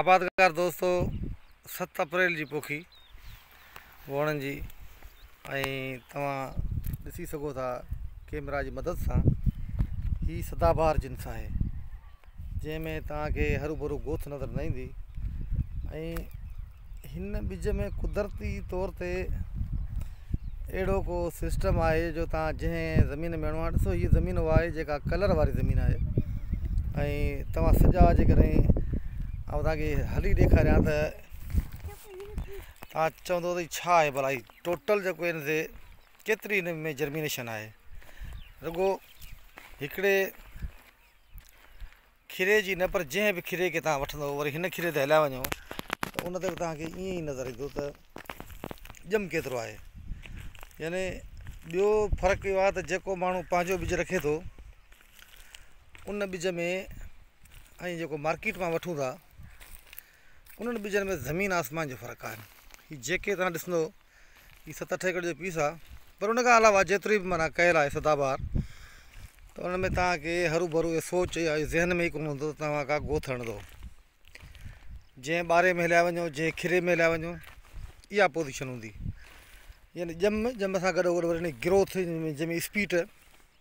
آبادگار دوستو ست اپريل جي پوکي ووڻن جي ۽ توهان ڏسي سگهو ٿا ڪيمرا جي مدد سان هي سدا بهار جنس آهي جنهن ۾ توهان کي هرو ڀرو گوٿ نظر نه ايندي ۽ هن ٻج ۾ قدرتي طور تي اهڙو ڪو سسٽم آهي جو تان جنهن زمين ۾ هڻو آهي ڏسو هي زمين اها آهي جيڪا ڪلر واري زمين آهي ۽ توهان سجا جي ڪڏهن آئون تانکي هلي ڏيکاريان ته تان چوندو ته هي ڇا آهي ڀلا هي ٽوٽل جيڪو هن تي ڪيتري هن ۾ جرمينيشن آهي رڳو هڪڙي کيري جي نه پر جنهن به کيري کي توهان وٺندو وري هن کيري تي هليا وڃو ته ان تي به توهان کي ائين ئي نظر ايندو ته ڄم ڪيترو آهي يعني ٻيو فرق اهو آهي ته جيڪو ماڻهو پنهنجو ٻج رکي ٿو ان ٻج ۾ ۽ جيڪو مارڪيٽ مان وٺون ٿا انهن ٻجن ۾ زمين آسمان جو فرق آهي هي جيڪي توهان ڏسندو هي ست اٺ ايڪڙ جو پيس آهي پر ان کان علاوه جيتري به معنيٰ ڪيل آهي سدابهار ته ان ۾ توهان کي هرو ڀرو اهو سوچ يا ذهن ۾ ئي ڪونه هوندو توهان کا ڳوٿ هڻندو جنهن ٻاري ۾ هليا وڃو جنهن کيري ۾ هليا وڃو اها پوزيشن هوندي يعني ڄم ڄم سان گڏو گڏ وري ان جي گروٿ جنهن جنهن جي اسپيڊ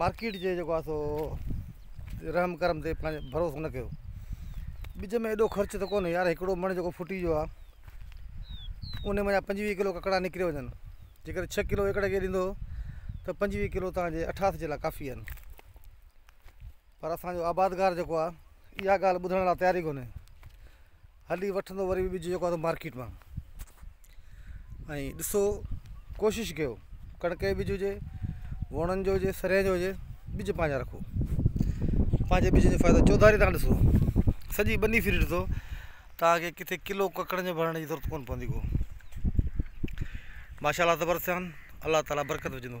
مارڪيٽ جي جيڪو آ سو رحم ڪرم تي پنهنجو ڀروسو نه ڪيو ٻج ۾ ايڏو خرچ ته ڪونهي يار هڪڙو مڻ جيڪو ڦٽي جو آ ان مان پنجويهه ڪلو ڪڪڙا نڪري وڃن جيڪڏهن ڇهه ڪلو ايڪڙ کي ڏيندو ته پنجويهه ڪلو تنهنجي اٺاس جي لاء ڪافي آهن پر اسان جو آبادگار جيڪو آ اها ڳالهه ٻڌڻ لاء تيار ئي ڪونهي. هلي وٺندو وري به ٻج جيڪو آ سو مارڪيٽ مان. ۽ ڏسو ڪوشش ڪيو ڪڻڪ جو ٻج هجي، ووڻن جو هجي، سرين جو هجي ٻج پنهنجا رکو. پنهنجي ٻج جو فائدو چوڌاري تان ڏسو. سڄي ٻني ڦري ڏسو توهان کي ڪٿي ڪلو ڪڪڙن جو ڀرڻ جي ضرورت ڪونه پوندي ڪو. ماشاء الله تبر سيان الله تعاليٰ برڪت وجهندو.